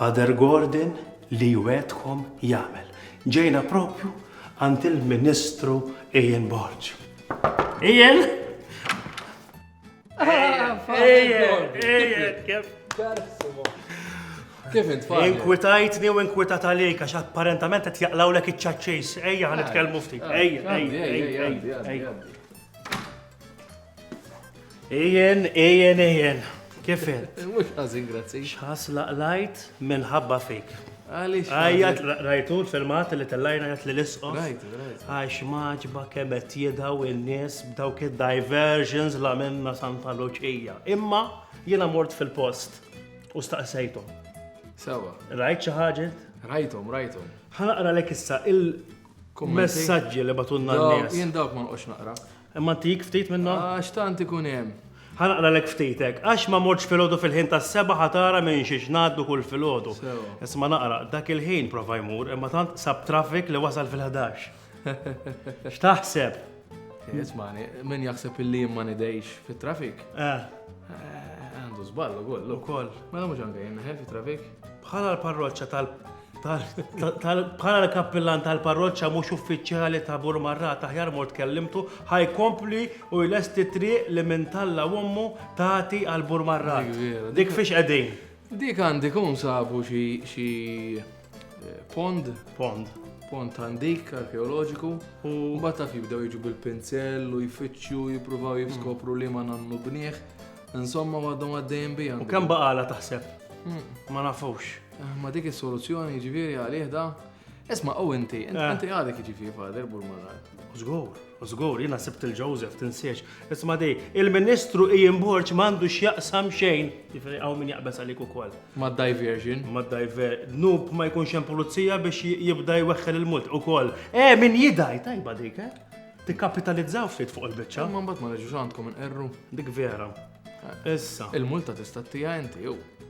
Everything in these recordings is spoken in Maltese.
Father Gordon li jwegħedkom jagħmel. Ġejna propju għand il-Ministru Ian Borg. Ian! Kif int fadli? Inkwitajtni u inkwitat għalik għax apparentament qed jaqlawlek iċ-ċaċċis. Ejja ħan nitkellmu ftit. Ejja, ejja, ejja, ejja. Ijen, ijen, ijen. Kif int? Mhux ħażin grazzi. X'ħas laqlajt minħabba fik. Għaliex. Għajjat rajtu l-filmat li tellajna għajat li l-isqos. Rajtu, rajtu. Għax maġba kemm qed jidaw in-nies b'dawk id-diversions la minna Santa Luċija. Imma jiena mort fil-post u staqsejthom. Sewa. Rajt xi ħaġa? Rajthom, rajthom. Ħanaqra lek issa il-messaġġi li batunna n-nies. Jien dawk ma nqgħodx naqra. Imma ntik ftit minnhom? Għax tant ikun hemm. Ħa naqralek ftit hekk. Għax ma mortx filgħodu fil-ħin tas-sebgħa ħa tara minn xiex ngħaddu kull filgħodu. Isma' naqra, dak il-ħin prova jmur imma tant sab traffic li wasal fil-ħdax. X'taħseb? Ismani, min jaħseb illi jien ma nidejx fit-traffic? Eh. Għandu żball ukoll. Ukoll. Mela mhux anke jien neħel fit-traffic? Bħala l-parroċċa tal- Bħala l-kappillan tal-parroċċa mhux uffiċjali ta' Burmarrat aħjar mort kellimtu ħajkompli u jlesti triq li minn talla ommu tagħti għal Burmarrat. Dik fiex qegħdin. Dik għandi kun sabu xi eh, pond. Pond. Pond għandik arkeoloġiku. U bata fi bdew jiġu bil-pinzell u jfittxu jippruvaw hmm. jiskopru li ma nannu bnieħ. Insomma għadhom għaddejjem bija. U kemm baqala taħseb? Hmm. Ma nafux. Ma dik is-soluzzjoni jiġifieri għalih da. Isma' u inti, eh. inti għadek jiġifieri fader Burmanar. Żgur, żgur, jiena sibt il-Joseph tinsiex. Isma' di, il-Ministru Ian Borg m'għandu x'jaqsam xejn. Jiġifieri hawn min jaqbeż għalik ukoll. Ma' diversion. Ma' diver. Nub ma jkunx hemm pulizija biex jibda jweħħel il-mult ukoll. Eh, min jidaj, tajba dik, eh? Tikkapitalizzaw ftit fuq il-biċċa. Ma mbagħad ma neġux għandkom inqerru. Dik vera. Eh. Issa. Il-multa tista' tija inti, jew.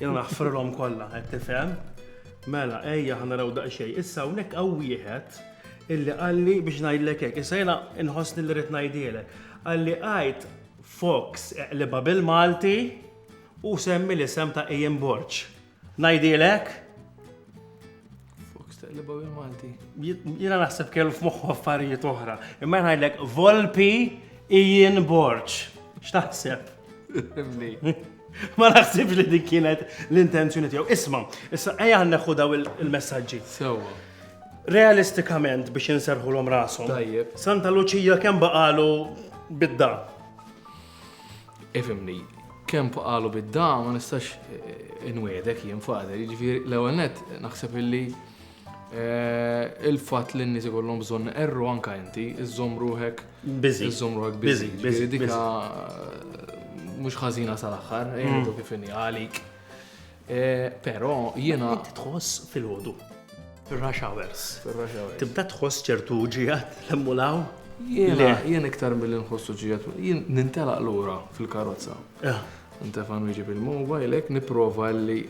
Jiena naħfrilhom kollha, qed tifhem? Mela, ejja ħa naraw daqsxejn. Issa hawnhekk hawn wieħed illi qalli biex ngħidlek hekk. Issa jiena nħossni li rrid ngħidhielek. Qalli għid Fox eqlibha bil-Malti u semmi l-isem ta' Ian Borg. Ngħidhielek? Fox taqlibaw il Malti. Jina naħseb kellu f'moħħu affarijiet oħra. Imma ngħidlek Volpi Ian Borċ. X'taħseb? Ma naħsibx li dik kienet l-intenzjoni tiegħu. Isma', issa ejja neħu daw il-messaġġi. Sewwa. Realistikament biex inserħu l-om rasom. Tajjeb. Santa Luċija kemm baqalu bidda. Ifhimni, kemm qalu bid-da ma nistax inwiegħdek jien, Father. Jiġifieri, l-ewwel nett, naħseb illi il-fatt li n-nies ikollhom bżonn iqerru anke inti, iżżomm ruħek Biżi. iżżomm ruħek biżi. Biżi, biżi, Jiġifieri dika mhux ħażina sal-aħħar, ejjew kif inhi għalik. Però jiena int tħoss filgħodu. Fir-rush hours. Fir-rush hours. Tibda tħoss ċertu ġiegħat l-emmulaw? Jiena jien iktar milli nħossu ġiegħat. Jien nintelaq lura fil-karozza. Eh. Ntefan wieġib il-mobile hekk nipprova li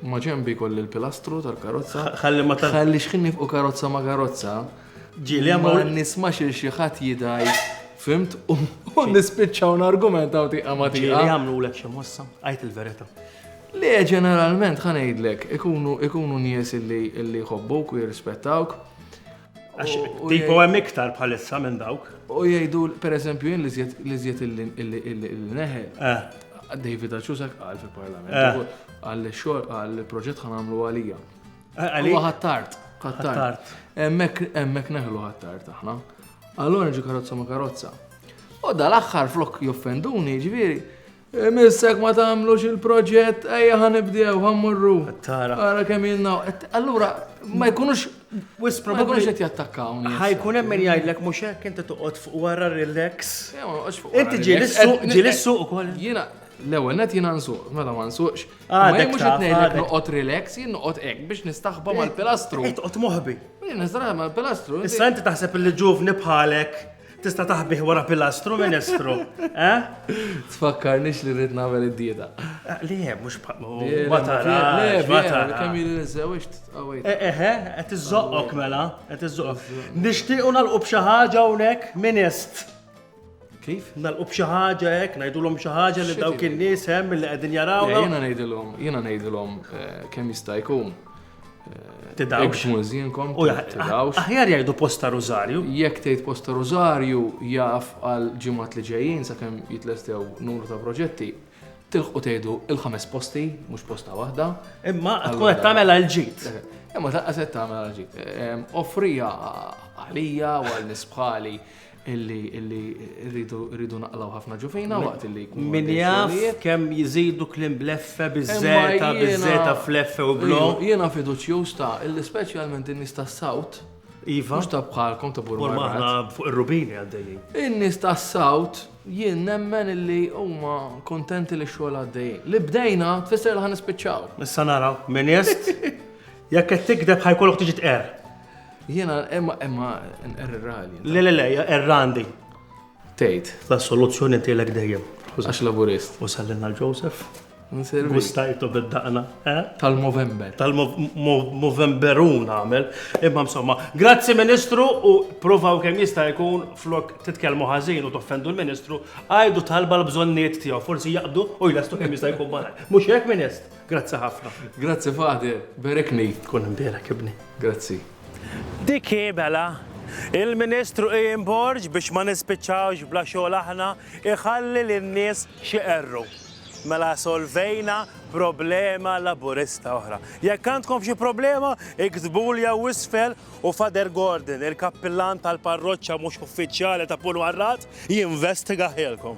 ma ġembi kolli l-pilastru tal-karozza. Ħalli ma tal. Ħalli xħin nifqu karozza ma karozza. Ġili għamma. Ma nismax il xieħat jidaj. Fimt? U nispiċċaw n-argument għaw tiqa ma tiqa. Ġili għamlu l-ek xemossa. Għajt il-verita. Le, ġeneralment, ħa ngħidlek, ikunu nies illi jħobbuk u jirrispettawk. Għax tipo hemm iktar bħalissa minn dawk. U jgħidu, per eżempju, jien li żjed illi neħe. Eh. David Aċusak għal fil-parlament. Eh. Għal xor għal proġett ħan għamlu għalija. Eh, għalija. Għattart. Għattart. Emmek neħlu għattart aħna. Allora ġi karozza ma karozza. U dal-axħar flok joffenduni, ġviri, Imiss hekk ma tagħmlux il-proġett, ejja ħa nibdew, ħa mmorru. Tara. Ara kemm jinnaw. Allura, ma jkunux wis probabbli qed jattakkawni. Ħajkun hemm min jgħidlek mhux hekk inti toqgħod fuq wara relax. Inti ġieli suq, ġieli suq ukoll. Jiena l-ewwel net jiena nsuq, mela ma nsuqx. Ah, ma mhux qed ngħidlek noqgħod relax, jien noqgħod hekk biex nistaħba mal-pilastru. Qed toqgħod moħbi. Jien nistaħba mal-pilastru. Issa inti taħseb li ġuvni bħalek Tista' taħbih wara pilastru, Ministru, eh? Tfakkarnix li rrid nagħmel id-dieta. Eh, le, mhux ma tarax, ma tarax. Kemm jien niżewġ tqawwejt. Eh, eh, eh, qed iżoqqok mela, qed iżoqqok. Nixtiequ nagħlqu b'xi ħaġa hawnhekk, Minist. Kif? Nalqu b'xi ħaġa hekk, ngħidulhom xi ħaġa li dawk in-nies hemm li qegħdin jarawna. Jiena ngħidilhom, jiena ngħidilhom kemm jista' jkun. Tidawx. Mużinkom. U tidawx. Aħjar jgħidu posta Rosario. Jekk tgħid posta Rosario jaf għal ġimgħat li ġejjin sakemm jitlestew numru ta' proġetti tilħu tgħidu il-ħames posti, mhux posta waħda. Imma tkun qed tagħmel għal ġid. Eh, imma ta' qed tagħmel għal ġid. Eh, offrija għalija u għal nisbħali illi illi rridu rridu naqlaw ħafna ġufina waqt illi jkun. Min jaf kemm jiżidu klim bleffe biżżeta biżżeta fleffe u blo. Jiena fiduċjuż ta' illi speċjalment in-nies tas-sawt. Iva. Mhux ta' bħalkom ta' burma. Burma aħna fuq ir-rubini għaddejjin. In-nies tas-sawt jien nemmen illi huma kontenti li xogħol għaddejjin. Li bdejna tfisser li ħan nispiċċaw. Issa naraw, min jest? Jekk qed tikdeb ħajkollok tiġi tqer. Jiena imma imma nqerrali. Le le le, errandi. Tgħid. La soluzzjoni tielek dejjem. Għax laburist. U sallinna l-Joseph. Nservi. Gustajtu bid-daqna, eh? Tal-Movember. Tal-Movemberun għamel. Imma insomma, grazzi Ministru u provaw kemm jista' jkun flok titkellmu ħażin u toffendu l-Ministru, għajdu talba l-bżonniet tiegħu, forsi jaqdu u jlastu kemm jista' jkun barra. Mhux hekk, Minist? Grazzi ħafna. Grazzi Fade, berekni. Tkun imberek ibni. Grazzi. Dik hi mela Il-Ministru Ian Borg biex ma nispiċċawx bla xogħol aħna iħalli lin-nies xi qerru. Mela solvejna problema laburista oħra. Jekk għandkom xi problema, iktbuli jew isfel u Fader Gordon, il-kappillan tal-parroċċa mhux uffiċjali ta' Pulwarrat, jinvestiga ħelkom.